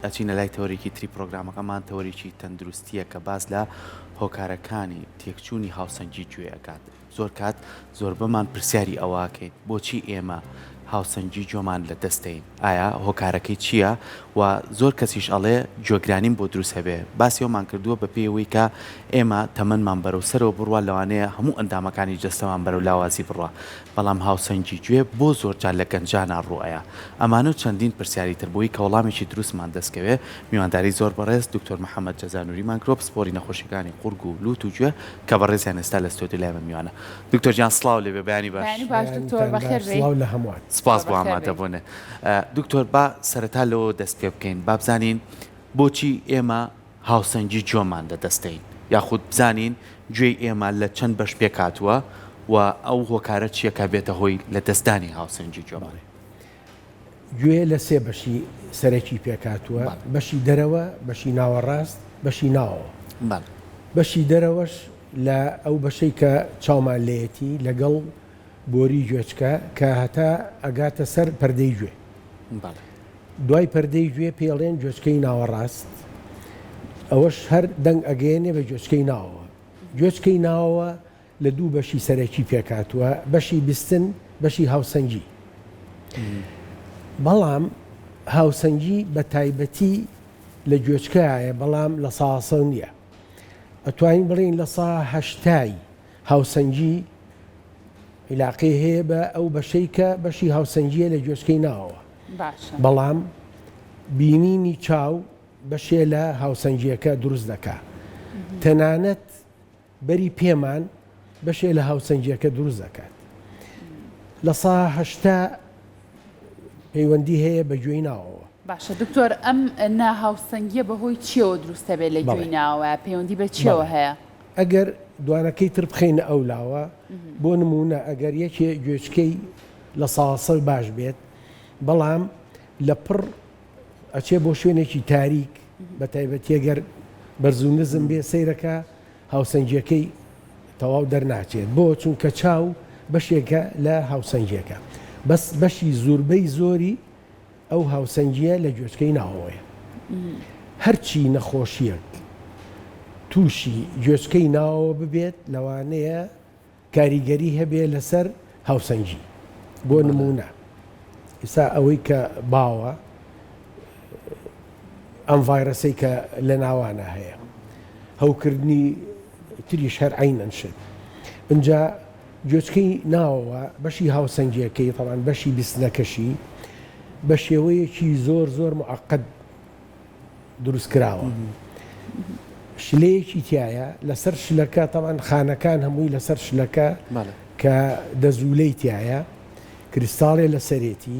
ئەچینە لای تەوەرێکی تری پرۆگرامەکەمان، تەوەرێکی تەندروستییە کە باس لە هۆکارەکانی تێکچوونی هاوسەنگی گوێ ئەکات. زۆر کات زۆربەمان پرسیاری ئەوە ئەکەین، بۆچی ئێمە هاوسەنگی گوێمان لە دەست دەین؟ ئایا هۆکارەکەی چییە؟ و زۆر کەسیش ئەڵێ گوێگرانیم بۆ دروست هەبێ. باسی ئەوەمان کردووە بە پێی ئەوەی کە ئێمە تەمەنمان بەرەو سەرەوە بڕوا لەوانەیە هەموو ئەندامەکانی جەستەمان بەرەو لاوازی بڕوا. بەڵام هاوسەنگی گوێ بۆ زۆرجار لە گەنجانا ڕوئەیا ئەمانە و چەندین پرسیاری تر بۆی کە وەڵامێکی دروستمان دەست کەوێ میوانداری زۆر بەڕێز دکتۆر محمد جەزا نوریمان کرۆ پسپۆری نەخۆشیەکانی قوڕگ و لوت و گوێ کە بەڕێزیان ئێستا لە ستۆدیۆ لای من میوانە دکتۆر گیان سڵاو لێبێ بەیانی باش. بەیانیتان باش سڵاو لە هەموان. سپاس بۆ ئامادە بونت دکتۆر با سەرەتا لەوەوە دەست پێ بکەین با بزانین بۆچی ئێمە هاوسەنگی گوێمان لەدەستدەین یاخود بزانین گوێی ئێمە لە چەند بەش پێکهاتووە و ئەو هۆکارە چییە کە بێتە هۆی لەدەستدانی هاوسەنگی گوێمان. بەڵێ. گوێ لە سێ بەشی سەرەکی پێکهاتووە، بەشی دەرەوە، بەشی ناوەڕاست، بەشی ناوەوە. بەڵێ. بەشی دەرەوەش لە ئەو بەشەی کە چاومان لێیەتی لەگەڵ بۆری گوێچکە کە هەتا ئەگاتە سەر پەردەی گوێ. بەڵێ. دوای پەردەی گوێ پێڵێن گوێچکەی ناوەڕاست ئەوەش هەر دەنگ ئەگەیەنێ بە گوێچکەی ناوەوە. گوێچکەی ناوەوە لە دوو بەشی سەرەکی پێکهاتووە، بەشی بیستن، بەشی هاوسەنگی. بەڵام هاوسەنگی بە تایبەتی لە گوێچکە هەیە بەڵام لە سااسەوە نییە. ئەتوانین بڵێین لە سا هەشتای. هاوسەنگی عیلاقەی هەیە بە ئەو بەشەی کە بەشی هاوسەنگیە لە گوێچکەی ناوەوە بەڵام بینینی چاو بەشێ لە هاوسەنگیەکە دروست دەکا تەنانەت بەری پێمان بەشێ لە هاوسەنگیەکە دروست دەکات لە ساهشتا پەیوەندی هەیە بە گوێی ناوەوە باشە دکتۆر ئەم ناهاوسەنگیە بەهۆی چیەوە دروستە بێت لە گوێی ناوە پەیوەندی بە چیەوە هەیە ئەگەر دوانەکەی تر بخەینە ئەو لاوە بۆ نمونە ئەگەر یەکێ گوێچکەی لە ساسەوی باش بێت بەڵام لە پڕ ئەچێ بۆ شوێنێکی تاریک بە تایبەتیەگەر بەرزو نزم بێ سەیرەکە هاوسەنگیەکەی تەواو دەرناچێت بۆ چونکە چاو بەشێکە لە هاوسەنگیەکە بەس بەشی زوربەی زۆری ئەو هاوسەنگییە لە گوێچکەی ناوەوەیە. هەرچی نەخۆشییەک تووشی گوێچکەی ناوەوە ببێت لەوانەیە کاریگەری هەبێت لەسەر هاوسەنگی. بۆ نموونە ئیستا ئەوەی کە باوە ئەم ڤایرەسەی کە لە ناوانە هەیە هەوکردنی تریش هەر عینەن شت ئینجا گوێچکەی ناوەوە بەشی هاوسەنگیەکەی تەبعەن بەشی بیستنەکەشی بەشێوەیەکی زۆر زۆر معقد دروست کراوە شلەیەکی تایە لەسەر شلەکە تەبعەن خانەکان هەمووی لەسەر شلەکە کە دەزوولەی تایە کریستاڵێ لەسەرێتی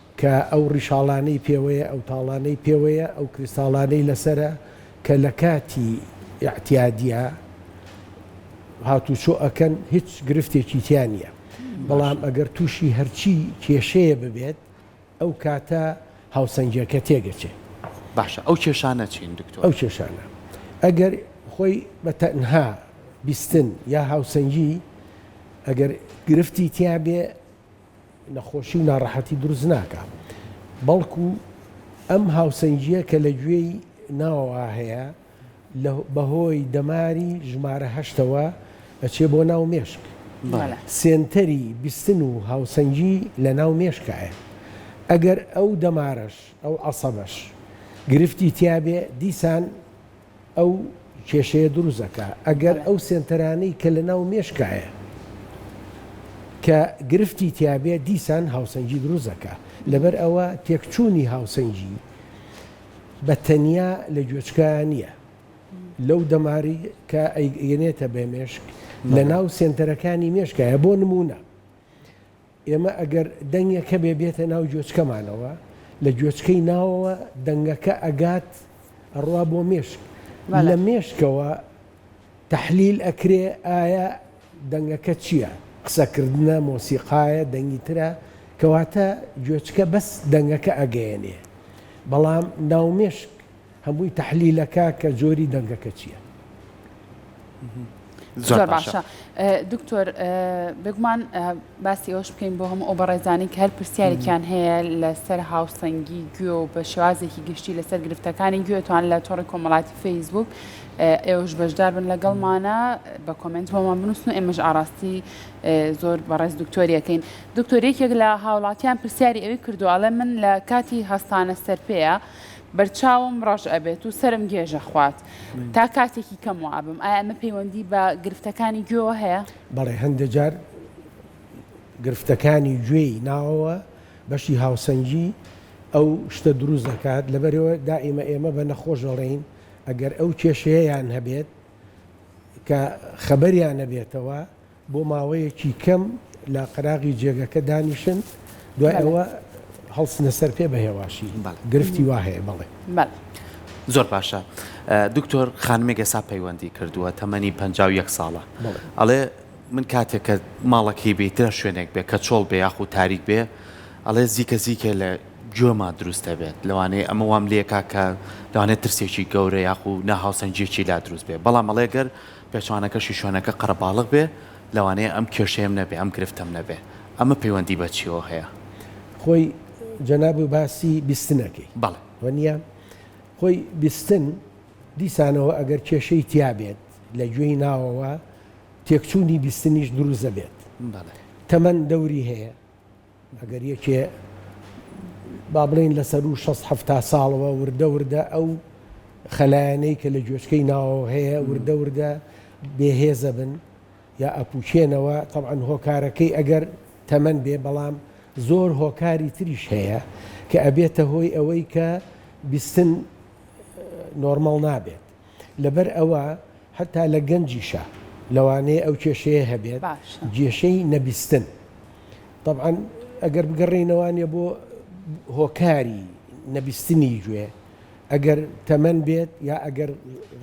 کە ئەو ڕیشاڵانەی پێوەیە، ئەو تاڵانەی پێوەیە، ئەو کریستاڵانەی لەسەرە، کە لە کاتی ئیعتیادیا هاتوچۆ ئەکەن، هیچ گرفتێکی تیا نییە، بەڵام ئەگەر تووشی هەرچی کێشەیە ببێت، ئەو کاتە هاوسەنگیەکە تێگەچێت. باشە ئەو کێشانە چین دکتۆر؟ ئەو کێشانە ئەگەر خۆی بە تەنها بیستن یا هاوسەنگی ئەگەر گرفتی تیابێ، نەخۆشی و ناڕەحەتی دروست ناکا بەڵکو ئەم هاوسەنگیە کە لە گوێی ناوەوە هەیە بەهۆی دەماری ژمارە هەشتەوە ئەچێ بۆ ناو مێشک سێنتەری بیستن و هاوسەنگی لە ناو مێشکایە ئەگەر ئەو دەمارەش ئەو عسەبەش گرفتی تیاێ دیسان ئەو کێشەیە دروست ئەکا ئەگەر ئەو سێنتەرانەی کە لەناو مێشکایە کە گرفتی تیابێ دیسان هاوسەنگی دروست ئەکا لەبەر ئەوە تێکچوونی هاوسەنگی بە تەنیا لە گوێچکایان نییە لەو دەماری کە ئەیگەنێتە بێ مێشک لەناو سێنتەرەکانی مێشکایە بۆ نموونە ئێمە ئەگەر دەنگێک هەبێ بێتە ناو گوێچکەمانەوە، لە گوێچکەی ناوەوە دەنگەکە ئەگات ئەڕوا بۆ مێشک، لە مێشکەوە تەحلیل ئەکرێ ئایا دەنگەکە چییە؟ قسەکردنە، مۆسیقایە، دەنگی ترە؟ کەواتە گوێچکە بەس دەنگەکە ئەگەیەنێ بەڵام ناو مێشک هەمووی تەحلیلەکە کە جۆری دەنگەکە چیە. زۆر باشە دکتۆر بگومان باسی ئەوش بکەین بۆ هەموو ئەو بەڕێزانانی کە هەر پرسیارێکیان هەیە لەسەر هاوسەنگی گوێ و بە شێوازێکی گشتی لەسەر گرفتەکانی گوێتوان لە تۆڕی کۆمەڵاتی فەیسبوک ئێوش بەشدار بن لەگەڵمانە بە کۆمنت بۆمان بنووسن و ئێمەش ئاراستی زۆر بەڕێز دکتۆریەکەین دکتۆرێکێک لە هاوڵاتیان پرسیاری ئەوی کردوواڵێ من لە کاتی هەستانە سەرپەیە بەرچاوم ڕەش ئەبێت و سەرم گێژ ئەخوات تا کاتێکی کەم وا ئەبم، ئایا ئەمە پەیوەندی بە گرفتەکانی گوێوە هەیە؟ بەڵێ هەندێک جار گرفتەکانی گوێی ناوەوە بەشی هاوسەنگی ئەو شتە دروست دەکات، لەبەرئەوە دائیمە ئێمە بە نەخۆش دەڵێین ئەگەر ئەو کێشەیەیان هەبێت کە خەبەریان نەبێتەوە بۆ ماوەیەکی کەم لە قەراغی جێگەکە دانیشن دوای ئەوە هەڵسنە سەر پێ بە هێواشی گرفتی وا هەیە بەڵێ. زۆر باشە دکتۆر خانمێک ئێسا پەیوەندی کردووە تەمەنی پ یەک ساڵە ئەڵێ من کاتێک کە ماڵەکەی بیترە شوێنێک بێ کە چۆڵ بێ یاخود تاریک بێ ئەڵێ زیکە زیکێ لە گوێما دروست دەبێت لەوانەیە ئەمە وام لێکا کە لەوانێت ترسێکی گەورە یاخود ناهاوسەنگیەکی لا دروست بێ بەڵام ئەڵێ گەر پێچەوانەکەشی شوێنەکە قەرەباڵغ بێ لەوانەیە ئەم کێشەیەم نەبێ ئەم گرفتەم نەبێ ئەمە پەیوەندی بە چیەوە هەیە؟ خۆی جەنابت باسی بیستنەکەی بەڵێ. وەنیە خۆی بیستن دیسانەوە ئەگەر کێشەی تیا بێت لە گوێی ناوەوە تێکچوونی بیستنیش دروست دەبێت بەڵێ. تەمەن دەوری هەیە. ئەگەر یەکێ با بڵێین لە سەروو شەست حەفتا ساڵەوە وردە وردە ئەو خەلایەنەی کە لە گوێچکەی ناوەوە هەیە وردە وردە بێهێزە بن یا ئەپوچێنەوە تەعاان هۆکارەکەی ئەگەر تەمەەن بێ بەڵام زۆر هۆکاری تریش هەیە کە ئەبێتە هۆی ئەوەی کە بیستن نۆرمەڵ نابێت لەبەر ئەوە هەتا لە گەنجیشە لەوانەیە ئەو کێشەیە هەبێت گێشەی نەبیستن طبعاان ئەگەر بگەڕێینەوانە بۆ هۆکاری نەبیستنی گوێ ئەگەر تەمەەن بێت یا ئەگەر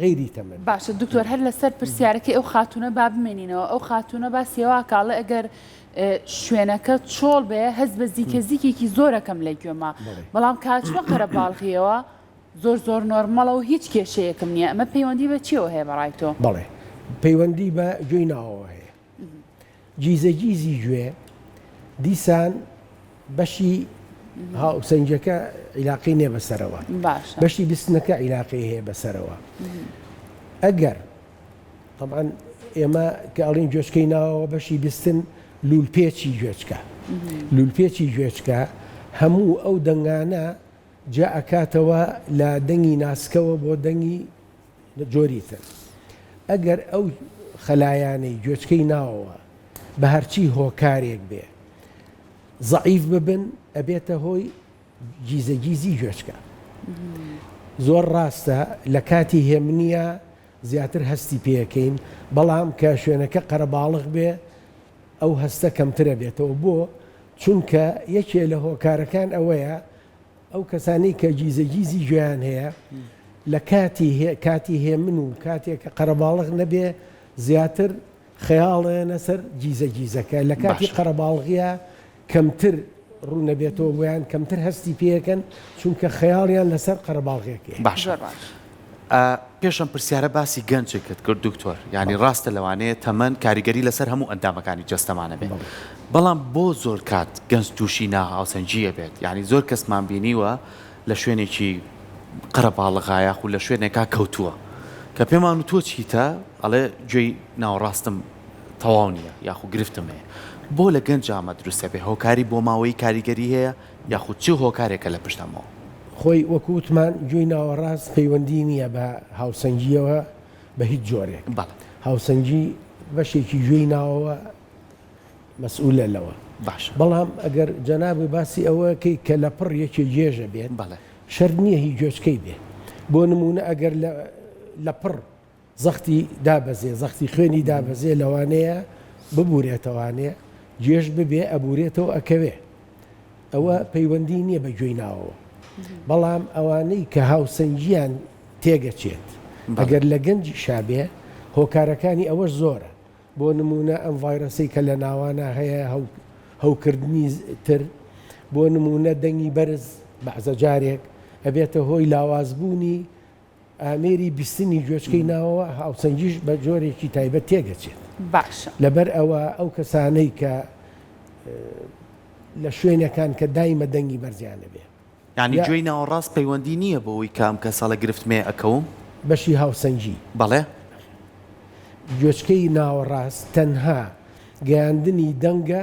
غیری تەمەەن باشە دکتۆر هەر لەسەر پرسیارەکەی ئەو خاتونە با بمێنینەوە ئەو خاتونە با سێوا کاڵێ ئەگەر شوێنەکە چۆڵ بێ هەز بە زیکە زیکێکی زۆرەکەم لە گوێما بەڵام کاتوە قەرە باڵغیەوە زۆر زۆر نۆرمەڵە و هیچ کێشەیەکم نیە ئەمە پەیوەندی بە چیەوە هەیە بەڕای تۆ؟ بەڵێ پەیوەندی بە گوێی ناوەوە هەیە گیزە گیزی گوێ دیسان بەشی هاوسەنگەکە عیلاقی نێ بەسەرەوە باشە بەشی بستنەکە عیلاقی هەیە بەسەرەوە ئەگەر طبعا ئێمە کە ئەڵین گوێچکەی ناوەوە بەشی بستن لولپێچی گوێچکە لولپێچی گوێچکە هەموو ئەو دەنگانە جیا ئەکاتەوە لە دەنگی ناسکەوە بۆ دەنگی جۆری تر ئەگەر ئەو خەلایانەی گوێچکەی ناوەوە بە هەرچی هۆکارێک بێ زەعیف ببن ئەبێتە هۆی گیزە گیزی گوێچکە زۆر ڕاستە لە کاتی هێمنە زیاتر هەستی پێەکەین بەڵام کە شوێنەکە قەرەباڵغ بێ ئەو هەستە کەمترە بێتەوە بۆ چونکە یەکێ لە هۆکارەکان ئەوەیە ئەو کەسانەی کە گیزەگیزی گوێیان هەیە لە کاتی هێ کاتی هێمن و کاتێک کە قەرەباڵغ نەبێ زیاتر خەیاڵێنە سەر گیزە گیزەکە لە کاتی باشە. قەرەباڵغیا کەمتر ڕوونەبێتەوە بۆیان کەمتر هەستی پێەکەن چونکە خەیاڵیان لەسەر قەرەباڵغێکێ باشە زۆر باش. ئە پێش ئەم پرسیارە باسی گەنجێکت کرد دکتۆر یانی ڕاستە لەوانەیە تەمەن کاریگەری لەسەر هەموو ئەندامەکانی جەستەمانە بێت بەڵام بۆ زۆر کات گەنج تووشی ناهاوسەنجی ئەبێت یانی زۆر کەسمان بینیوە لە شوێنێکی قەرەباڵغایە خو لە شوێنێکا کەوتووە کە پێمان و تۆ چیتە ئەڵێ گوێی ناوەڕاستم تەواو نییە یاخو گرفتم هەیە بۆ لە گەنج ئامە دروستە بێ هۆکاری بۆ ماوەی کاریگەری هەیە یاخود چ هۆکارێکە لە پشت ئەمەوە؟ خۆی وەکو وتمان گوێی ناوەڕاست پەیوەندی نییە بە هاوسەنگییەوە بە هیچ جۆرێک. بەڵێ. هاوسەنگی بەشێکی گوێی ناوەوە مەسئولە لەوە. باشە. بەڵام ئەگەر جەنابت باسی ئەوەکەی کە لەپڕ یەکێ گێژە بێت. بەڵێ. شەرت نییە هی گوێچکەی بێ. بۆ نموونە ئەگەر لە لەپڕ زەختی دابەزێ زەختی خوێنی دابەزێ لەوانەیە ببورێتەوانێ جێژ ببێ ئەبورێتەوە ئەکەوێ ئەوە پەیوەندی نییە بە گوێی ناوەوە بەڵام ئەوانەی کە هاوسەنگیان تێگەچێت بەگەر لە گەنجی شابێ هۆکارەکانی ئەوە زۆرە بۆ نمونە ئەم ڤایرەسی کە لە ناوانە هەیە هەوکردنی تر بۆ نمونە دەنگی بەرز بەعزە جارێک ئەبێتە هۆی لاوازبوونی ئامێری بیستنی گوێچکەی ناوەوە هاوسەنگیش بە جۆرێکی تایبەت تێدەچێت. باشە. لەبەر ئەوە ئەو کەسانەی کە لە شوێنەکان کە دایمە دەنگی بەرزیان دەبێ. یانی گوێی ناوەڕاست پەیوەندی نییە بەوەی کە ئەم کەسە لە گرفت مێ ئەکەوم؟ بەشی هاوسەنگی. بەڵێ. گوێچکەی ناوەڕاست تەنها گەیاندنی دەنگە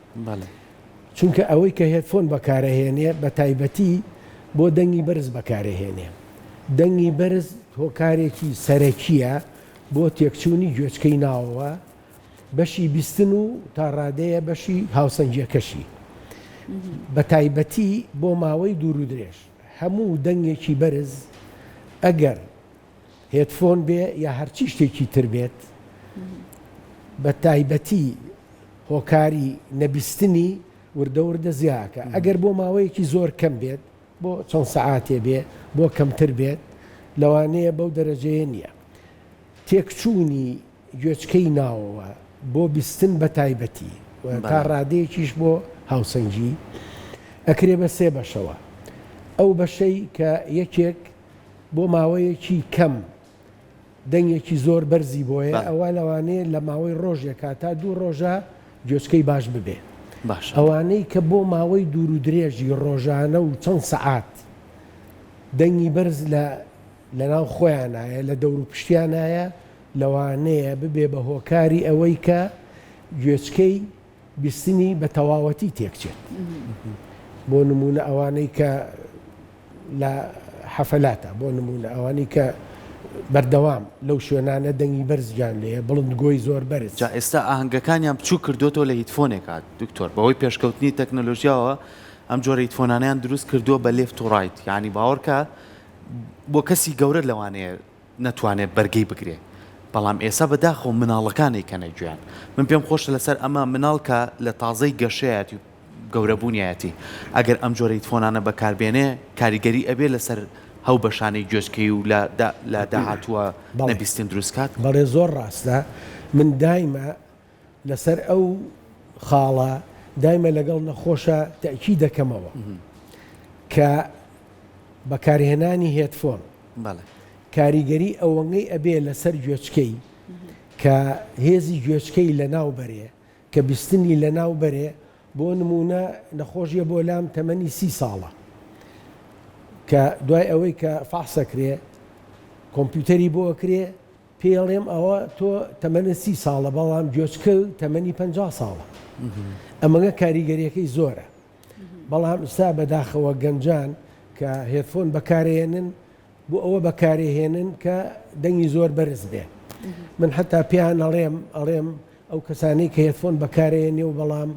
بەڵێ. چونکە ئەوەی کە هێدفۆن بەکارئەهێنێ بە تایبەتی بۆ دەنگی بەرز بەکارئەهێنێ. دەنگی بەرز هۆکارێکی سەرەکییە بۆ تێکچوونی گوێچکەی ناوەوە، بەشی بیستن و تا ڕادەیە بەشی هاوسەنگییەکەشی. بە تایبەتی بۆ ماوەی دوورودرێژ. هەموو دەنگێکی بەرز ئەگەر هێدفۆن بێ یا هەرچی شتێکی تر بێت بە تایبەتی هۆکاری نەبیستنی وردەوردە زیاکە ئەگەر بۆ ماوەیەکی زۆر کەم بێت بۆ چەند سەعاتێ بێ بۆ کەمتر بێت لەوانەیە بەو دەرەجەیە نییە تێکچوونی گوێچکەی ناوەوە بۆ بیستن بە تایبەتی تا ڕادەیەکیش بۆ هاوسەنگی ئەکرێ بە سێ بەشەوە ئەو بەشەی کە یەکێک بۆ ماوەیەکی کەم دەنگێکی زۆر بەرزی بۆیە ئەوە لەوانەیە لە ماوەی ڕۆژێکا تا دوو ڕۆژە گوێچکەی باش ببێ ئەوانەی کە بۆ ماوەی دوور و درێژی ڕۆژانە و چەند سەعات دەنگی بەرز لە لەناو خۆیانایە لە دەور و پشتیانایە لەوانەیە ببێ بە هۆکاری ئەوەی کە گوێچکەی بیستنی بە تەواوەتی تێکچێت بۆ نموونە ئەوانەی کە لە حەفەلاتە بۆ نموونە ئەوانی کە بەردەوام لەو شوێنانە دەنگی بەرزجان لێ بڵند گۆی زۆر بەرز جا ئێستا ئاهنگەکانیان بچوو کردوەوە لە هیتفۆنێکات دکتۆر بەهۆی پێشکەوتنی تەکنەلۆژیاوە ئەم جۆرە هیتفۆنانیان دروست کردووە بە لێفت و ڕایت یعنی باوەڕکە بۆ کەسی گەورە لەوانەیە نەتوانێت بەرگەی بگرێ بەڵام ئێسا بەداخەوە مناڵەکان ئەیکەنە گوێیان من پێم خۆشە لەسەر ئەمە مناڵ کە لە تازەی گەشەیەتی و گەورەبوونیەتی ئەگەر ئەم جۆرە هیتفۆنانە بەکاربێنێ کاریگەری ئەبێ لەسەر هەو بەشانەی گوێچکەی و لە لە داهاتووە بەڵێ نەبیستن دروست کات. بەڵێ زۆر ڕاستە من دایمە لەسەر ئەو خاڵە دایمە لەگەڵ نەخۆشە تەکی دەکەمەوە کە بەکارهێنانی هێتفۆن کاریگەری ئەوەنگەی ئەبێ لەسەر گوێچکەی کە هێزی گوێچکەی لە ناو بەرێ کە بیستنی لە ناو بەرێ بۆ نمونە نەخۆشیە بۆ لام تەمەنی سی ساڵە کە دوای ئەوەی کە فاحسەکرێ کۆمپیوتەری بۆ ئەکرێ پێی ئەڵێم ئەوە تۆ تەمەنت سی ساڵە بەڵام گوێچکە تەمەنی پەنجا ساڵە ئەمەگە کاریگەریەکەی زۆرە بەڵام ئستا بەداخەوە گەنجان کە هێدفۆن بەکارێنن بۆ ئەوە بەکارێهێنن کە دەنگی زۆر بەرز بێ من حتا پێیان ئەڵێم ئەڵێم ئەو کەسانی کە هێدفۆن بەکارێنێ و بەڵام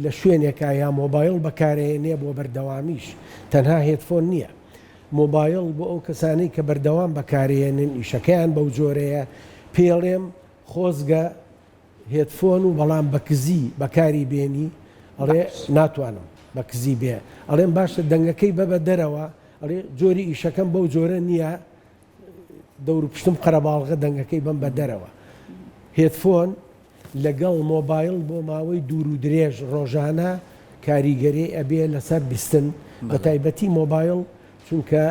لە شوێنێکە یا مۆبایڵ بەکارەیەنێ بۆ بەردەوامیش تەنها هێدفۆن نییە مۆبایڵ بۆ ئەو کەسانەی کە بەردەوام بەکارەیەنن ئیشەکەیان بەو جۆرەیە پێڵێم خۆزگە هێدفۆن و بەڵام بە کزی بەکاری بێنی ئەڵێ ناتوانم بە کزی بێ ئەڵێم باشە دەنگەکەی بەبە دەرەوە ئەڵێ جۆری ئیشەکەم بەو جۆرە نییە دەورو پشتم قەرەباڵغە دەنگەکەی بەم بە دەرەوە. هێدفۆن لەگەڵ مۆبایڵ بۆ ماوەی دوور و درێژ ڕۆژانە کاریگەری ئەبێ لەسەر بیستن بە تایبەتی مۆبایڵ چونکە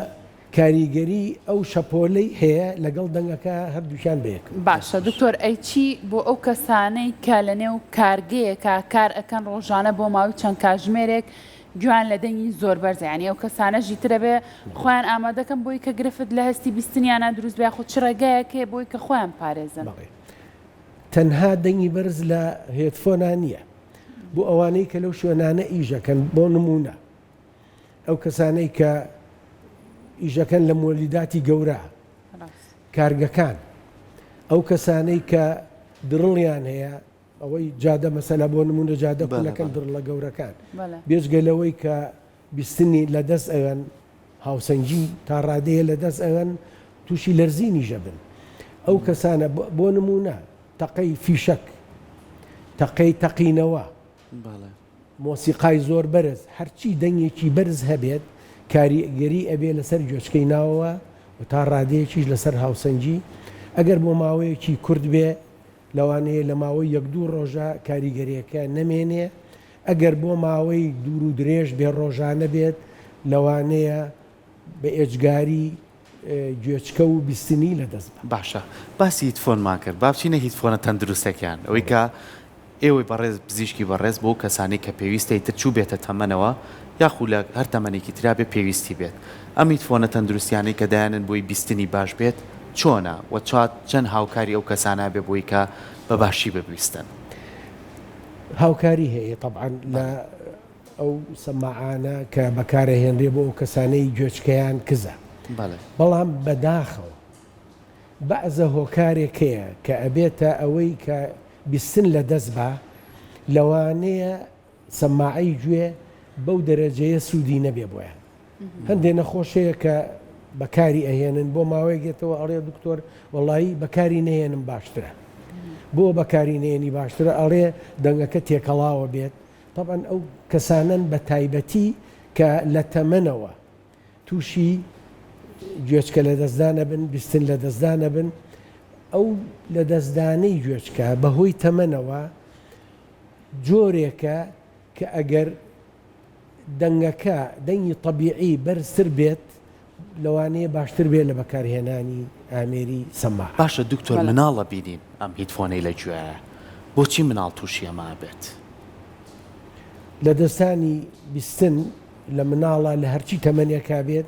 کاریگەری ئەو شەپۆلەی هەیە لەگەڵ دەنگەکە هەردووکیان بەیەک. باشە دکتۆر ئەی چی بۆ ئەو کەسانەی کە لەنێو کارگەیەکا کار ئەکەن ڕۆژانە بۆ ماوەی چەند کاژمێرێک گوێیان لە دەنگی زۆر بەرزە یانی ئەو کەسانە ژیتر ئەبێ خۆیان ئامادەکەن بۆی کە گرفت لە هەستی بیستنیانە دروست بێ خۆ چ ڕێگایەک هەیە بۆی کە خۆیان پارێزن. تەنها دەنگی بەرز لە هێدفۆنا نییە بۆ ئەوانەی کە لەو شوێنانە ئیشەکەن بۆ نمونە ئەو کەسانەی کە ئیشەکەن لە مۆلیداتی گەورە کارگەکان ئەو کەسانەی کە دڕڵیان هەیە ئەوەی جادە مەسەلە بۆ نمونە جادە کونەکەن دڕڵە گەورەکان بێجگە لەوەی کە بیستنی لە دەست ئەوێن هاوسەنگی تا ڕادەیە لە دەست ئەوێن تووشی لەرزینی ژەبن ئەو کەسانە بۆ نمونە تەقەی فیشەک تەقەی تەقینەوە مۆسیقای زۆر بەرز هەرچی دەنگێکی بەرز هەبێت کاریگەری ئەبێ لەسەر گوێچکەی ناوەوە و تا ڕادەیەکیش لەسەر هاوسەنگی ئەگەر بۆ ماوەیەکی کورد بێ لەوانەیە لە ماوەی یەک دوو ڕۆژە کاریگەریەکە نەمێنێ، ئەگەر بۆ ماوەی دوور و درێژ بێ ڕۆژانە بێت لەوانەیە بە ئێجگاری گوێچکە و بیستنی لە دەست بە. باشە باسی هیتفۆنمان کرد با بچینە هیتفۆنە تەندروستەکان ئەوەی کە ئێوەی بەڕێز پزیشکی بەڕێز بۆ کەسانی کە پێویستەی تر چوو بێتە تەمەنەوە یاخو لە هەر تەمەنێکی ترابێ پێویستی بێت ئەم هیتفۆنە تەندروستیانەی کە دایانێن بۆی بیستنی باش بێت چۆنە وە چات چەند هاوکاری ئەو کەسانە ئەبێ بۆی کە بە باشی ببیستن؟ هاوکاری هەیە تەبعەن لە ئەو سەماعانە کە بەکارەهێنرێ بۆ ئەو کەسانەی گوێچکەیان کزە بەڵام بەداخەوە بەعزە هۆکارێک هەیە کە ئەبێتە ئەوەی کە بیستن لە دەست با لەوانەیە سەماعەی گوێ بەو دەرەجەیە سوودی نەبێ بۆیان هەندێ نەخۆش هەیە کە بەکاری ئەهێنن بۆ ماوەیەک گێتەوە ئەڵێ دکتۆر وەڵایی بەکاری نهێنم باشترە بۆ بەکاری نێنی باشترە ئەڵێ دەنگەکە تێکەڵاوە بێت طبعاً ئەو کەسانن بە تایبەتی کە لە تەمەنەوە تووشی گوێچکە لە دەستدانە بن بیستن لە دەستدانە بن ئەو لە دەستدانەی گوێچکە بەهۆی تەمەنەوە جۆرێکە کە ئەگەر دەنگەکە دەنگی تەبیعی بەرزتر بێت لەوانەیە باشتر بێت لە بەکارهێنانی ئامێری سەما. باشە دکتۆر مناڵ ئەبینین ئەم هیدفۆنەی لە گوێیە بۆچی مناڵ توشی ئەمە ئەبێت؟ لەدەستدانی بیستن لە مناڵە لە هەرچی تەمەنێکا بێت،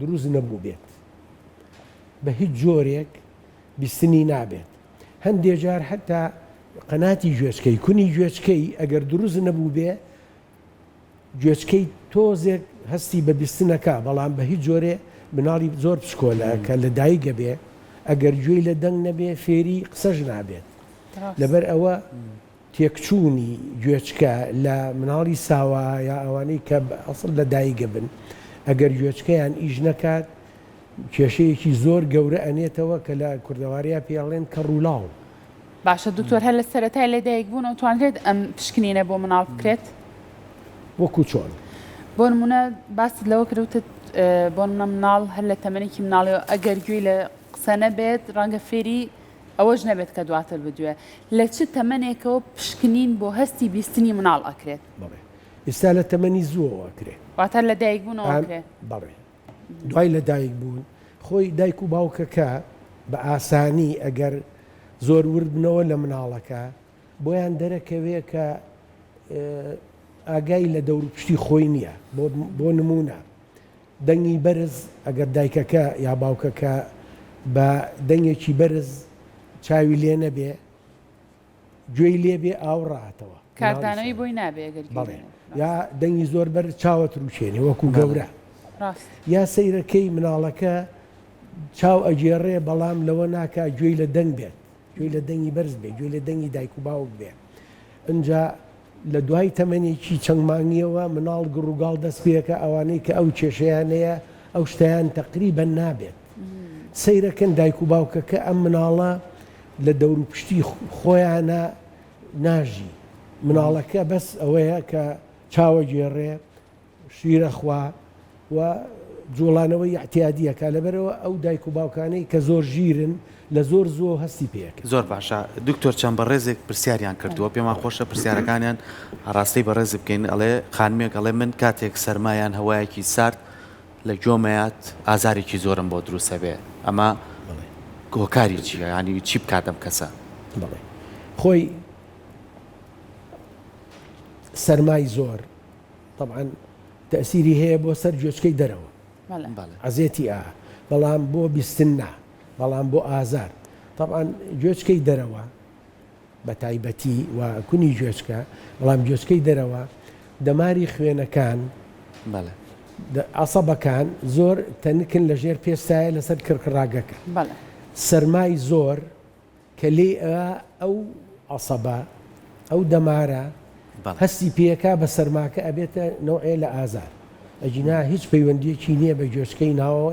دروست نەبووبێت بە هیچ جۆرێک بیستنی نابێت هەندێ جار هەتا قەناتی گوێچکەی کونی گوێچکەی ئەگەر دروست نەبوو بێ گوێچکەی تۆزێک هەستی بە بیستنەکە بەڵام بە هیچ جۆرێ مناڵی زۆر پشکۆلە کە لە دایکە بێ ئەگەر گوێی لە دەنگ نەبێ فێری قسەش نابێت لەبەر ئەوە تێکچوونی گوێچکە لە مناڵی ساوا یا ئەوانەی کە ئەسڵ لە دایک بن ئەگەر گوێچکەیان ئیش نەکات کێشەیەکی زۆر گەورە ئەنێتەوە کە لە کوردەواریا پێی ئەڵێن کەڕ و لاڵ. باشە دکتۆر هەر لە سەرەتای لەدایک بوون ئەتوانرێت ئەم پشکنینە بۆ مناڵ بکرێت؟ وەکو چۆن؟ بۆ نمونە باست لەوە کردوتت بۆ منە مناڵ هەر لە تەمەێکی مناڵەوە ئەگەر گوێی لە قسە نەبێت ڕەنگە فێری ئەوەش نەبێت کە دواتر بدوێ. لە چ تەمەنێکەوە پشکنین بۆ هەستی بیستنی مناڵ ئەکرێت؟ بەڵێ ئیستا لە تەمەنی زووەوە ئەکرێ. واتە لە دایک بوونەوە ئەکرێ؟ بەڵێ دوای لە دایک بوون خۆی دایک و باوکەکە بە ئاسانی ئەگەر زۆر ورد بنەوە لە مناڵەکە بۆیان دەرەکەوێ کە ئاگای لە دەوروپشتی خۆی نییە بۆ نموونە دەنگی بەرز، ئەگەر دایکەکە یا باوکەکە بە دەنگێکی بەرز چاوی لێ نەبێ، گوێی لێ بێ ئاو ڕاتەوە. کاردانەوەی بۆی نابێ ئەگەر گوێی لێ نەبێ. بەڵێ. یا دەنگی زۆر بەرز چاوت ڕووکێنێ وەکوو گەورە. ڕاست. یا سەیرەکەی مناڵەکە چاو ئەگێڕێ بەڵام لەوە ناکا گوێی لە دەنگ بێت. گوێی لە دەنگی بەرز بێ، گوێی لە دەنگی دایک و باوک بێ. ئنجا لە دوای تەمەنێکی چەند مانگیەوە مناڵ گڕ و گاڵ دەست پێەکا، ئەوانەی کە ئەو کێشەیان هەیە ئەو شتەیان تەقریبەن نابێت. سەیرەکەن دایک و باوکەکە ئەم مناڵە لە دەوروپشتی خۆیانا ناژی. مناڵەکە بەس ئەوەیە کە چاوەگێڕێ، شیر ئەخوا و جوڵانەوەی ئیعتیادی ئەکا لەبەرئەوە ئەو دایک و باوکانەی کە زۆر ژیرن لە زۆر زووەو هەستی پێ ئەکەن. زۆر باشە دکتۆر چەند بەڕێزێک پرسیاریان کردووە پێمان خۆشە پرسیارەکانیان ئاڕاستەی بەڕێز بکەین ئەڵێ خانمێک ئەڵێ من کاتێک سەرما یان هەوایەکی سارد لە گۆمەیات ئازارێکی زۆرم بۆ دروست ئەبێ ئەمە هۆکاری چیە یانی چی بکات ئەم کەسە؟ بەڵێ خۆی سەرمای زۆر تەبعەن تەئسیری هەیە بۆ سەر گوێچکەی دەرەوە عەزێتی ئا بەڵام بۆ بیستن نا بەڵام بۆ ئازار تەبعەن گوێچکەی دەرەوە بە تایبەتی و کونی گوێچکە بەڵام گوێچکەی دەرەوە دەماری خوێنەکان بەڵێ عسەبەکان زۆر تەنکن لە ژێر پێستایە لەسەر کڕکڕاگەکە سەرمای زۆر کە لێی ئەوا ئەو عەسەبە، ئەو دەمارە هەستی پێکا بە سەرماکە ئەبێتە نەوعێ لە ئازار. ئەگینا هیچ پەیوەندیەکی نیە بە گوێچکەی ناوەوە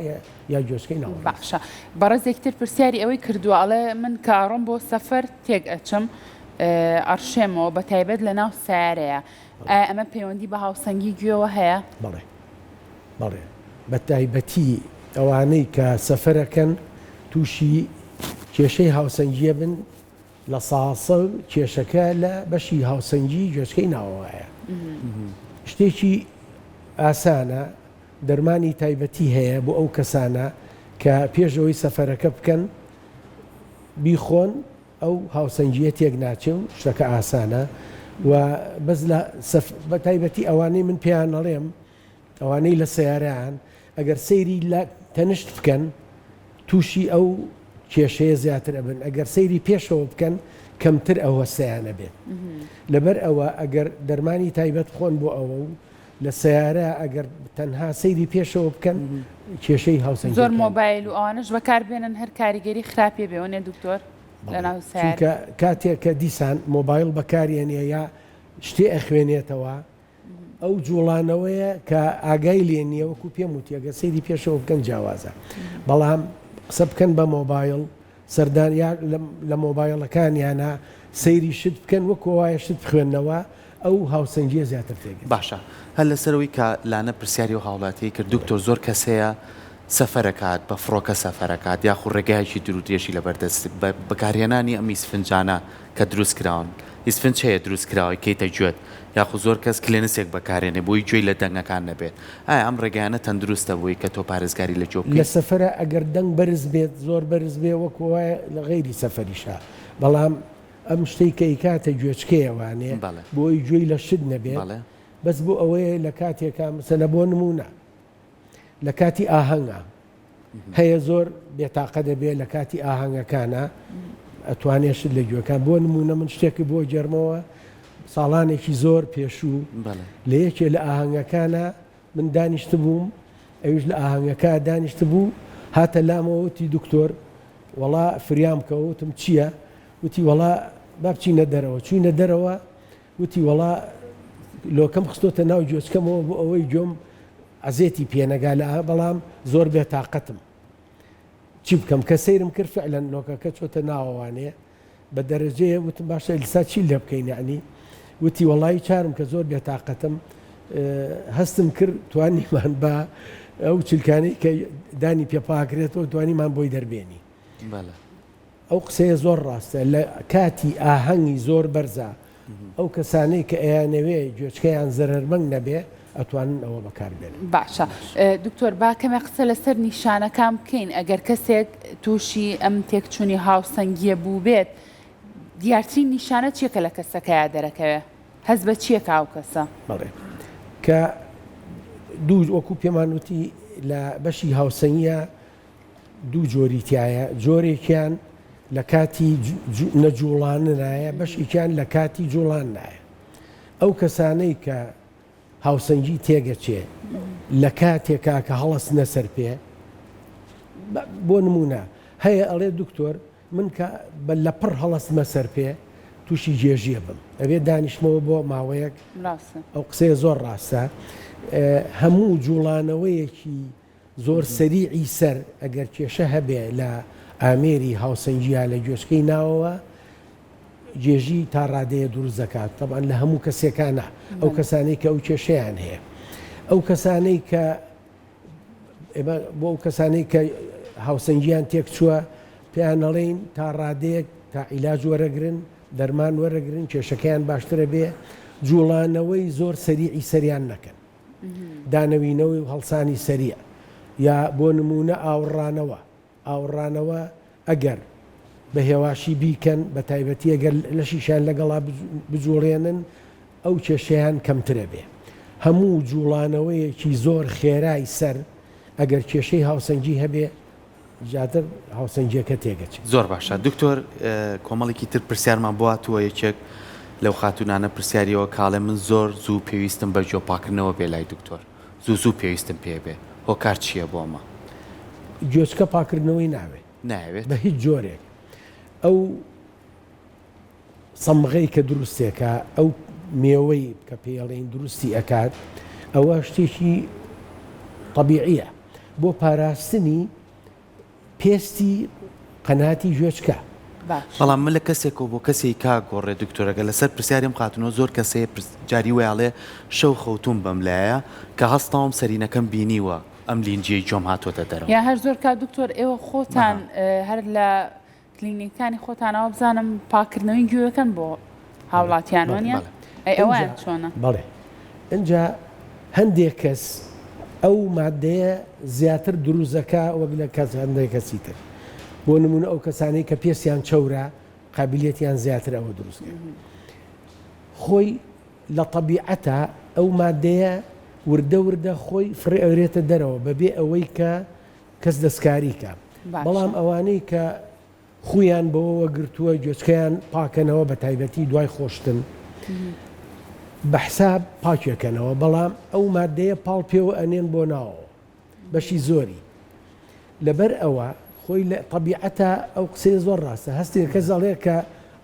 یا گوێچکەی ناوەڕاست. باشە بەڕێزێکی تر پرسیاری ئەوەی کردوە ئەڵێ من کە ئەڕۆم بۆ سەفەر تێک ئەچم ئەڕشێمەوە بەتایبەت لەناو سەیارەیا ئایا ئەمە پەیوەندی بە هاوسەنگی گوێوە هەیە؟ بەڵێ بەڵێ بەتایبەتی ئەوانەی کە سەفەرەکەن تووشی کێشەی هاوسەنگیە بن لە ساسە کێشەکە لە بەشی هاوسەنگی گوێچکەی ناوەوەە شتێکی ئاسانە دەرمانی تایبەتی هەیە بۆ ئەو کەسانە کە پێشەوەی سەفەرەکە بکەن بیخۆن ئەو هاوسەنگییە تێک ناچێ و شتەکە ئاسانە و بەس لە سەف بە تایبەتی ئەوانەی من پێیان ئەڵێم ئەوانەی لە سەیارەیان ئەگەر سەیری لە تەنشت بکەن تووشی ئەو کێشەیە زیاتر ئەبن ئەگەر سەیری پێشەوە بکەن کەمتر ئەوە سیانە بێت لەبەر ئەوە ئەگەر دەرمانی تایبەت خۆن بۆ ئەوە و لە سەیارە ئەگەر تەنها سەیری پێشەوە بکەن کێشەی هاوسەر زۆر مۆبایل و ئەوانش بەکار بێنن هەر کاریگەری خراپێ بێەوەێ دکتۆر چونکە کاتێک کە دیسان مۆبایل بەکارێنە یا شتێ ئەخوێنێتەوە ئەو جوڵانەوەیە کە ئاگای لێ نییە وەکو پێم وتیەگە سەیری پێشەوە بکەن جیاوازە بەڵام قسە بکەن بە مۆبایل سەردانیان لە مۆبایڵەکانیانە سەیری شت بکەن وەکو وایە شت بخوێننەوە ئەو هاوسەنگیە زیاتر تێگەن. باشە هەر لەسەرەوەی کە لانە پرسیاری ئەو هاوڵاتیەی کرد دکتۆر زۆر کەس هەیە سەفەرەکات بە فڕۆکە سەفەرەکات یاخو ڕێگایەکی دورودرێژی لەبەردەست بەکارهێنانی ئەم ئیسفنجانە، کە دروست کراون هیچ فنچ هەیە دروست کراوەی کەیتە گوێت یاخو زۆر کەس کلێنسێک بەکارێنێ بۆی گوێی لە دەنگەکان نەبێت ئایا ئەم ڕێگایانە تەندروستە بۆی کە تۆ پارێزگاری لە گوێ بکەی؟ لە سەفەرا ئەگەر دەنگ بەرز بێت زۆر بەرز بێ وەکو وایە لە غەیری سەفەریشا بەڵام ئەم شتەی کە ئەیکاتە گوێچکەیە وانیە بەڵێ. بۆی گوێی لە شت نەبێت بەڵێ. بەس بۆ ئەوەیە لە کاتێکا مسەلە بۆ نمونە لە کاتی ئاهەنگە هەیە زۆر بێتاقە دەبێ لە کاتی ئاهەنگەکانە ئەتوانێت شت لە گوێەکان بۆ نمونە من شتێکی بۆ جەرمەوە ساڵانێکی زۆر پێشوو لە یەکێ لە ئاهەنگەکانە من دانیشت بووم ئەوش لە ئاهەنگەکە دانیشت بوو هاتە لامەوەتی دکتۆر وەڵا فریام کەوتم چییە وتی وەڵا بابچینە دەرەوە چوینە دەرەوە وتی وەڵا لۆکەم خستۆتە ناو گوێچکەمەوە بۆ ئەوەی گوێم عەزێتی پێنەگا لە بەڵام زۆر بێ تااقەتم چی بکەم کە سەیرم کرد فعلەن لۆکەکە چۆتە ناوەوانەیە بە دەرەجەیە وتم باشە لسا چی لێ بکەین یعنی وتی وەڵی چارم کە زۆر بێ تااقەتم هەستم کرد توانیمان بە ئەو چلکانی کە دانی پێپاکرێتەوە دوانیمان بۆی دەربێنی ئەو قسەیە زۆر ڕاستە لە کاتی ئاهەنگی زۆر بەرزا ئەو کەسانەی کە ئەیانەوێ گوێچکەیان زەرەرمەنگ نەبێ ئەتوانن ئەوە بەکار بێنن. باشە دکتۆر با کەمێ قسە لەسەر نیشانەکان بکەین ئەگەر کەسێک تووشی ئەم تێکچوونی هاوسەنگیە بووبێت دیارترین نیشانە چیە کە لە کەسەکەیا دەرەکەوێ هەست بە چیە کە ئەو کەسە؟ بەڵێ کە دوو وەکو پێمان وتی لە بەشی هاوسەنگیە دوو جۆری تیایە جۆرێکیان لە کاتی نەجوڵاننایە بەشێکیان لە کاتی جوڵان نایە ئەو کەسانەی کە هاوسەنگی تێگەچێ لە کاتێکا کە هەڵس نەسەر پێ بۆ نمونە هەیە ئەڵێ دکتۆر من کە بە لە پڕ هەڵستمە سەر پێ تووشی گێژیە بم ئەبێ دانیشتمەوە بۆ ماوەیەک ئەو قسەیە زۆر ڕاستە هەموو جوڵانەوەیەکی زۆر سەریعی سەر ئەگەر کێشە هەبێ لە ئامێری هاوسەنگی یا لە گوێچکەی ناوەوە گێژی تا ڕادەیە دروست دەکات تەبان لە هەموو کەسێکانە ئەو کەسانەی کە ئەو کێشیان هەیە ئەو کەسانەی کە بۆ ئەو کەسانەی کە هاوسەنگیان تێک چووە پێیانەڵین تا ڕادەیەک تا عیلاج وەرەگرن دەرمان وەرەگرن کێشەکەیان باشترە بێ جوڵانەوەی زۆر سەریعی سەریان نەکەن دانەوینەوەی و هەڵسانی سەریع یا بۆ نموونە ئاوڕانەوە، ئاوڕانەوە ئەگەر بە هێواشی بیکەن بە تایبەتی ئەگەر لەشیشیان لەگەڵا بجوڵێنن ئەو کێشەیان کەمتر ئەبێ. هەموو جوڵانەوەیەکی زۆر خێرای سەر ئەگەر کێشەی هاوسەنگی هەبێ، زیاتر هاوسەنگیەکە تێگەچێ. زۆر باشە دکتۆر کۆمەڵێکی تر پرسیارمان بۆ هاتووە یەکێک لەو خاتوونانە پرسیاری ئەوە کاڵێ من زۆر زوو پێویستم بە گوێ پاکردنەوە بێ لای دکتۆر زوو زوو پێویستم پێ بێ هۆکار چییە بۆ ئەمە؟ گوێچکە پاکردنەوەی ناوێ نایەوێت بە هیچ جۆرێک ئەو. سەمغەی کە دروستێکە ئەو مێوەی کە پێڵین دروستی ئەکات ئەوە شتێکی طبیعە بۆ پاراستنی پێستی قەناتی ژێچکە بەڵام من لە کەسێک و بۆ کەسی کا گۆڕێ دکتۆرەکە لەسەر پرسیارم قاتنەوە زۆر کەسێ جاری ویاڵێ شەو خەوتوم بەم لایە کە هەستاوم سەرینەکەم بینیوە ئەم لینجیەی جۆم هاتۆتە دەرەوە یا هەر زۆر کا دکتۆر ئێوە خۆتان هەر لە کلینیکانی خۆتان ئەوە بزانم پاکردنەوەی گوێەکەن بۆ هاوڵاتیان وانە ئەی ئەوان چۆنە بەڵێ ئەجا هەندێک کەس ئەو مادەیە زیاتر دروزەکە وەک لە کەس هەندێک کەسی تر بۆ نمونە ئەو کەسانی کە پێستیان چەورە قابلیەتیان زیاتر ئەوە دروست خۆی لە طبیعەتە ئەو مادەیە وردە وردە خۆی فڕێ ئەورێتە دەرەوە بەبێ ئەوەی کە کەس دەستکاری کا بەڵام ئەوانەی کە خوویان بەوەوە گرتووە گوێچکەیان پاکەنەوە بە تایبەتی دوای خۆشتن بە حساب پاکێکەنەوە بەڵام ئەو مادەیە پاڵ پێوە ئەنێن بۆ ناوەوە بەشی زۆری لەبەر ئەوە خۆی لە طبیعەتە ئەو قسەی زۆر ڕاستە هەستێک کە زەڵێ کە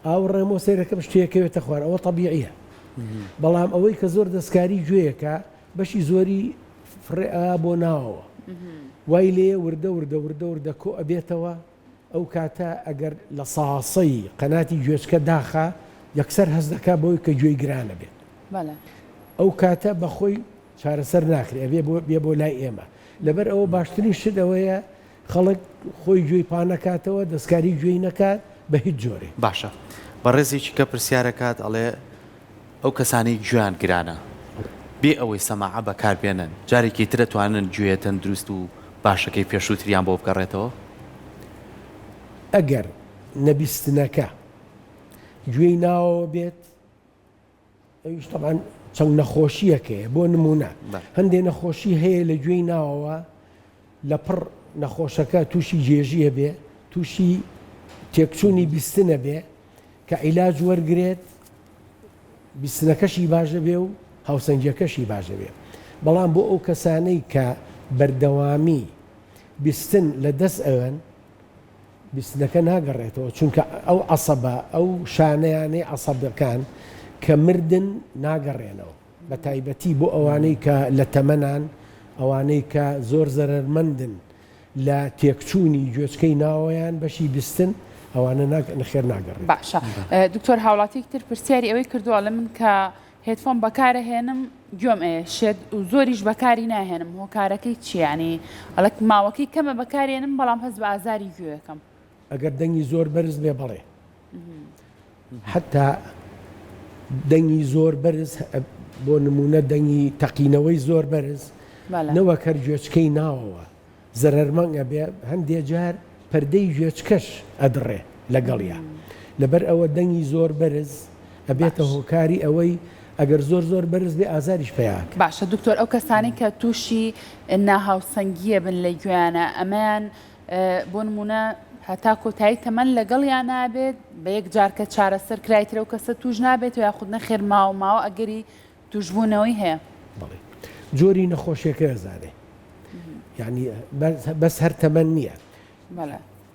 ئاو ڕێمۆ سێرەکەم شتێکەوێتە خوارەوە طبیعە بەڵام ئەوەی کە زۆر دەستکاری گوێیەکە بەشی زۆری فڕێئا بۆ ناوەوە وای لێیە وردە وردە وردە وردە کۆ ئەبێتەوە ئەو کاتە ئەگەر لە ساسەی قەناتی گوێچکە داخا یەکسەر هەست دەکا بەوەی کە گوێی گرانە بێت ئەو کاتە بەخۆی چارەسەر ناکرێ بێ بۆ لای ئێمە لەبەر ئەوە باشترین شت ئەوەیە خەڵک خۆی گوێی پا نەکاتەوە دەستکاری گوێی نەکات بە هیچ جۆرێک. باشە بەڕێزێکی کە پرسیارەکات ئەڵێ ئەو کەسانەی گوێیان گرانە بێ ئەوەی سەماعە بەکار بێنن جارێکی تر ئەتوانن گوێ تەندروست و باشەکەی پێشووتریان بۆ بگەڕێتەوە؟ ئەگەر نەبیستنەکە گوێی ناوەوە بێت، ئەویش تەبان چەند نەخۆشییەک هەیە بۆ نمونە هەندێک نەخۆشی هەیە لە گوێی ناوەوە لە پڕ نەخۆشەکە تووشی جێژیە بێ تووشی تێکچوونی بیستنە بێ کە عیلاج وەرگێت بیستنەکەشی باشە بێ و هاوسەنگەکەشی باشە بێ بەڵام بۆ ئەو کەسانەی کە بەردەوامی بیستن لە دەست ئەوەن بیستنەکە ناگەڕێتەوە چونکە ئەو عەسەبە ئەو شانەیانەی عەسەبەکان کە مردن ناگەڕێنەوە بە تایبەتی بۆ ئەوانەی کە لە تەمەنان ئەوانەی کە زۆر زەرەرمەندن لە تێکچوونی گوێچکەی ناوەیان بەشی بیستن ئەوانە ناکە نەخێر ناگەڕێت باشە دکتۆر هاوڵاتیک تر پرسیاری ئەوەی کردووە لە من کە هێدفۆن بەکارەهێنم گوێم ئەیە شێت و زۆریش بەکاری ناهێنم هۆکارەکەی چیانی ئەڵک ماوەکەی کەمە بەکارێنم بەڵام هەز بە ئازاری گوێەکەم ئەگەر دەنگی زۆر بەرز بێ بڵێ حتا دەنگی زۆر بەرز بۆ نمونە دەنگی تەقینەوەی زۆر بەرز نەوەکەر گوێچکەی ناوەوە زەرەرمەنگ ئەبێ هەندێ جار پەردەی گوێچکەش ئەدڕێ لەگەڵیا لەبەر ئەوە دەنگی زۆر بەرز ئەبێتە باش هۆکاری ئەوەی ئەگەر زۆر زۆر بەرز بێ ئازاریش پەیا ئەکا. باشە دکتۆر ئەو کەسانەی کە توشی ناهاوسەنگیە بن لە گوێیانا ئەمەیان بۆ نمونە هەتا کۆتایی تەمەن لەگەڵیا نابێت بە یەک جار کە چارەسەر کرایتر ئەو کەسە توش نابێت و یاخود نەخێر ماوە ماوە ئەگەری توشبونەوەی هەیە. بەڵی جۆری نەخۆشیەکە ئەزانێ یعنی بەس هەر تەمەەن نییە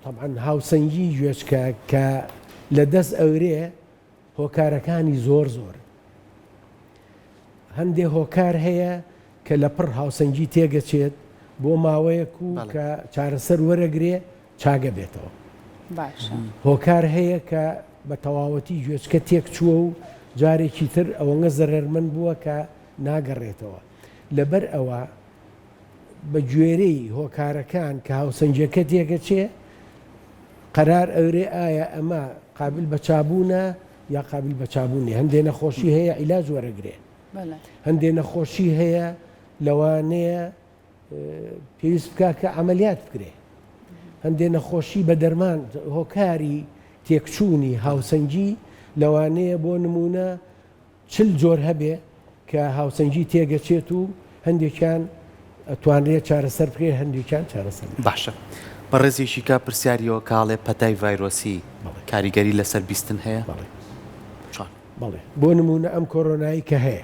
طبعاان هاوسەنگی گوێچکە کە لە دەست ئەورێ هۆکارەکانی زۆر زۆر هەندێ هۆکار هەیە کە لە پڕ هاوسەنگی تێگەچێت بۆ ماوەیەک و کە چارەسەر وەرەگرێ چاگە بێتەوە. باشە. هۆکار هەیە کە بە تەواوەتی گوێچکە تێک چووە و جارێکی تر ئەوەنگە زەرەرمەند بووە کە ناگەڕێتەوە. لەبەر ئەوە بە گوێرەی هۆکارەکان کە هاوسەنگیەکە تێگەچێ قەرار ئەورێ ئایا ئەمە قابل بە چابوونە یا قابل بە چابوونی هەندێ نەخۆشی هەیە عیلاج وەرەگرێ هەندێ نەخۆشی هەیە لەوانەیە پێویست بکە کە عملیات بکرێ هەندێ نەخۆشی بە دەرمان هۆکاری تێکچوونی هاوسەنگی لەوانەیە بۆ نمونە چل جۆر هەبێ کە هاوسەنگی تێگەچێت و هەندێکیان توانرێت چارەسەر بکرێت هەندێکیان چارەسەر باشە بەڕێزیشی کا پرسیاریەوە کاڵێ پەتای ڤایرۆسی کاریگەری لەسەر بیستن هەیە بەڵێ بەڵێ بۆ نمونە ئەم کۆرۆنایی کە هەیە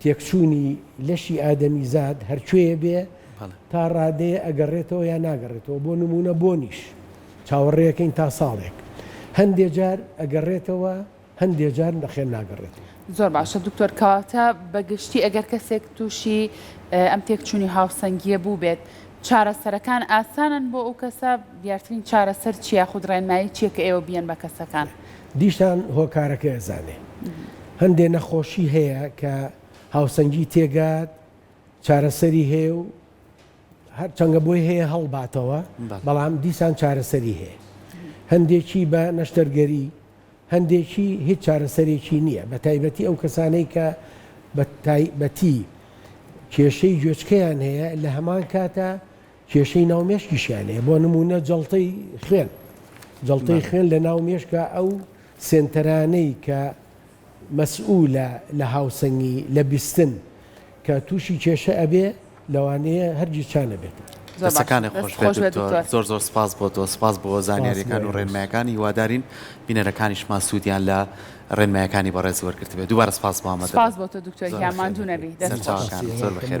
تێکچوونی لەشی ئادەمیزاد هەرکوێیە بێ تا ڕادەیە ئەگەڕێتەوە یا ناگەڕێتەوە بۆ نموونە بۆنیش چاوەڕێەکەین تا ساڵێک هەندێ جار ئەگەڕێتەوە هەندێ جار نەخێن ناگەڕێتەوە. زۆر باشە دکتۆر کەواتە بە گشتی ئەگەر کەسێک تووشی ئەم تێکچوونی هاوسەنگییە بووبێت چارەسەرەکان ئاسانن بۆ ئەو کەسە دیارترین چارەسەر چییە خود ڕێنمایی چییە کە ئێوە بیەن بە کەسەکان؟ دیسان هۆکارەکەی ئەزانێ. هەندێ نەخۆشی هەیە کە هاوسەنگی تێگات چارەسەری هەیە و هەر چەنگە بۆی هەیە هەڵباتەوە بەڵام دیسان چارەسەری هەیە. هەندێکی بە نەشتەرگەری هەندێکی هیچ چارەسەرێکی نییە بە تایبەتی ئەو کەسانەی کە بە تایبەتی کێشەی گوێچکەیان هەیە لە هەمان کاتە کێشەی ناو مێشکیشیان هەیە بۆ نموونە جەڵتەی خوێن جەڵتەی خوێن لە ناو مێشکە ئەو سێنتەرانەی کە مەسئولە لە هاوسەنگی لە بیستن کە تووشی کێشە ئەبێ لەوانەیە هەرگیز چانەبێتەوە. دەستەکانت خۆش بێت دکتۆر زۆر زۆر سپاس بۆ تۆ سپاس بۆ زانیاریەکان و ڕێنمایەکان هیوادارین بینەرەکانیشمان سوودیان لە ڕێنمایەکانی بەڕێز وەرگرتبێت دووبارە سپاس بۆ ئامادەبوونت. سپاس بۆ تۆ دکتۆر گیان ماندوو نەبی دەست خۆش. سەرچاوەکانت زۆر بەخێر بێن.